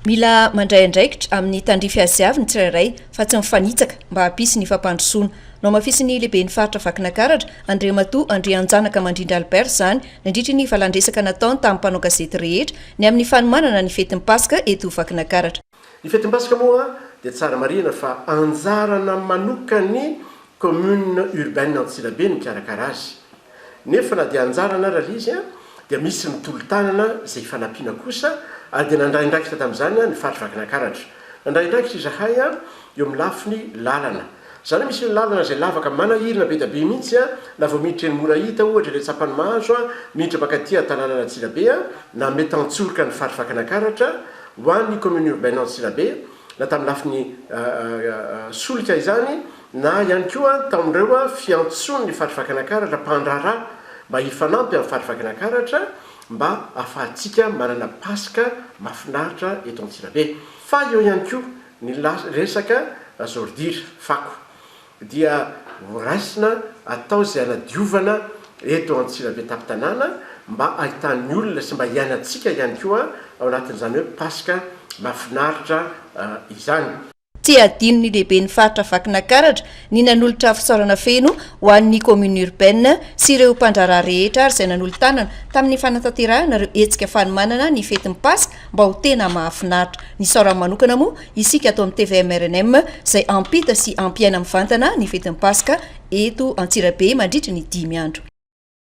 Mila mandray andraikitra amin'ny tandrify azy avy ny tsirairay fa tsy mifanitsaka mba hampisy ny fampandrosoana. Nohamafisin'ny lehiben'ny faritra Vakinakaratra, Andriamatoa Andrianjanaka Mandrindra Albert izany nandritry ny valandresaka nataony tamin'ny mpanao gazety rehetra ny amin'ny fanomanana ny fetin'ny Paska eto Vakinakaratra. Ny fetin'ny Paska moa dia tsara marihina fa anjarana manokan'ny Commune Urbaine Antsirabe ny mikarakara azy Nefa na dia anjarana ary ilay izy dia misy ny tolo-tanana izay ifanampiana kosa ary dia nandray andraikitra tamin'izany ny faritry Vakinakaratra. Nandray andraikitra izahay eo amin'ny lafiny lalana. Izany hoe misy lalana izay lavaka manahirana be dia be mihitsy na vao miditra eny Morahita ohatra eny Antsampanimahazo miditra mankaty an-tanànan' Antsirabe na Metantsoroka ny faritry Vakinakaratra ho an'ny commune urbaine Antsirabe na tamin'ny lafiny solika izany na ihany koa tamin'ireo fiantsoan'ny Faritr'i Vakinakaratra mpandraharaha mba hifanampy amin'ny Faritr'i Vakinakaratra mba ahafahantsika manana Paska mahafinaritra eto Antsirabe. Fa eo ihany koa ny resaka zordira, fako, dia horaisina atao izay hanadiovana eto Antsirabe tampon-tanàna mba hahitan'ny olona sy mba hiainantsika ihany koa ao anatin'izany hoe Paska mahafinaritra izany. Tsy hadinon'ny lehiben'ny faritra Vakinakaratra ny nanolotra fisaorana feno ho an'ny Commune Urbaine sy ireo mpandraharaha rehetra ary izay nanolo-tanana tamin'ny fanatanterahana ireo hetsika fanomanana ny fetin'ny Paska mba ho tena mahafinaritra. Nisaora manokana moa isika ato amin'ny tvm-rnm izay hampita sy hampiaina mivantana ny fetin'ny Paska eto Antsirabe mandritry ny dimy andro.